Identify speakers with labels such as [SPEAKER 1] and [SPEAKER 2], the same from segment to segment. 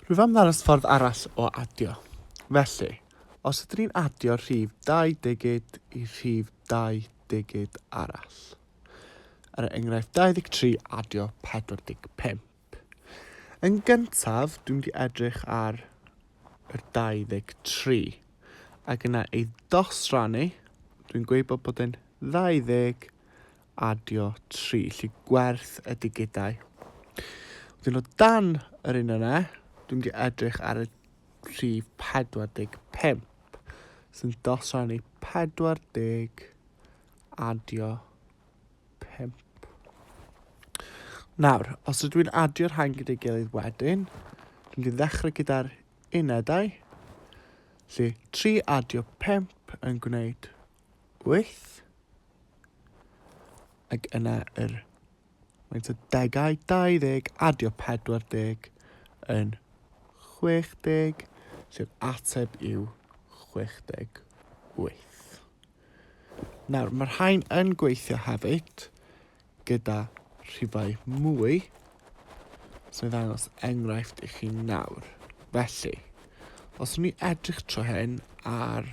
[SPEAKER 1] Rwyf am ddangos ffordd arall o adio. Felly, os ydyn ni'n adio rhif dau digid i rhif dau digid arall, er enghraifft 23 adio 45. Yn gyntaf, dwi'n mynd i edrych ar yr 23, ac yna ei ddosrannu, dwi'n gweud bod bod yn 20 adio tri, lli gwerth y digidau. Wedyn o dan yr un yna, dwi'n di edrych ar y rhif 45, sy'n dos o'n i 40 adio 5. Nawr, os ydw i'n adio'r hain gyda'i gilydd wedyn, dwi'n di ddechrau gyda'r unedau, lle 3 adio 5 yn gwneud 8. Ac yna yr faint o degau 20 adio 40 yn 60, sef ateb yw 68. Nawr, mae'r rhain yn gweithio hefyd gyda rhifau mwy sy'n ddangos enghraifft i chi nawr. Felly, os ni edrych tro hyn ar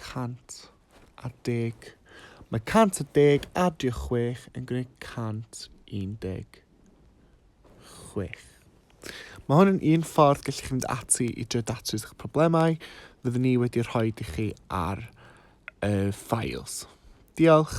[SPEAKER 1] 100 a deg. Mae 100 a deg adio chwech yn gwneud 116. Mae hwn yn un ffordd gallu chi fynd ati i drio datrys eich problemau. Fyddwn ni wedi rhoi i chi ar y files. Diolch.